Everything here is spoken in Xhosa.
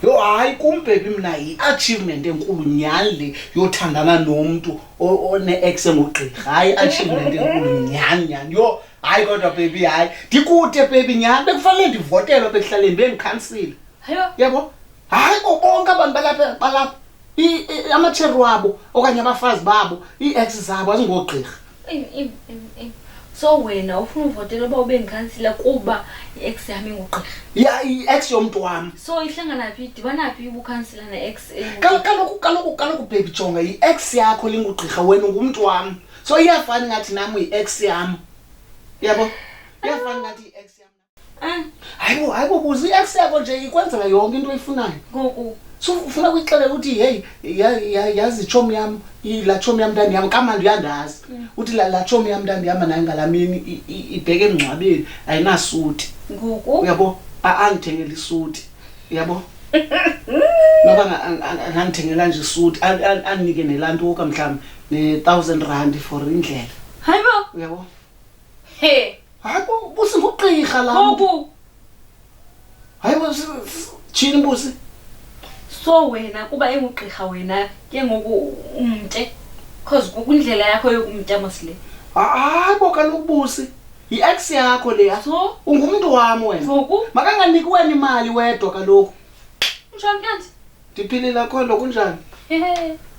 yho hayi kum bhebi mna yi-achievement enkulu nyhani le yothandana nomntu one-ex engugqirha hayi i-achievement enkulu nyhani nyhani yho hayi kodwa bhebi hayi ndikude bhebi nyhani bekufanele ndivotelwa bekuhlaleni bendikhansile Hayo, yabo hayi bo bonke abantu balapha balapha amatsheri wabo okanye abafazi babo ii-ex zabo azingoogqirha so wena ufuna uvotela uba ube ndikhansila kuba i-ex yam ingugqirha ya i-ex yomntu wam so ihlangana phi idibana phi ubukhansila ne-ex kaloku kaloku kaloku bhebi jonga yi-ex yakho lingugqirha wena ungumntu wam so iyafani ngathi nam yi-ex yam yabo iyafani ngathi yi-ex yam Eh? hayi bo hayi bo buza i-ex yakho nje ikwenzela yonke into oyifunayo ngoku so ufuna kuyixelela ukuthi heyi ya- ya- yazi itshomi yam i- laa tshomi yam ntandi yam kamandi uyandazi uthi la- laa tshomi yam ntandi yam nayo ngalaa mini i- i- ibheke emngcwabeni ayinasuti ngoku uyabo A- angithengela isuti uyabo noba nga- ang- ang- angandithengela nje isuti an- an- andinike nelantuka mhlawumbi ne-thousand rand for indlela hayi bo uyabo He. Hayi bo busi ngugqirha la. Bobu. Hayi bo chini busi. So wena kuba engugqirha wena ke ngoku umnte cause kukundlela yakho yokumnta mosile. Hayi bo kaloku busi. Yi-ex yakho le so ungumntu wam wena makanganiki wena imali wedwa kaloku ndiphilile akho nto kunjani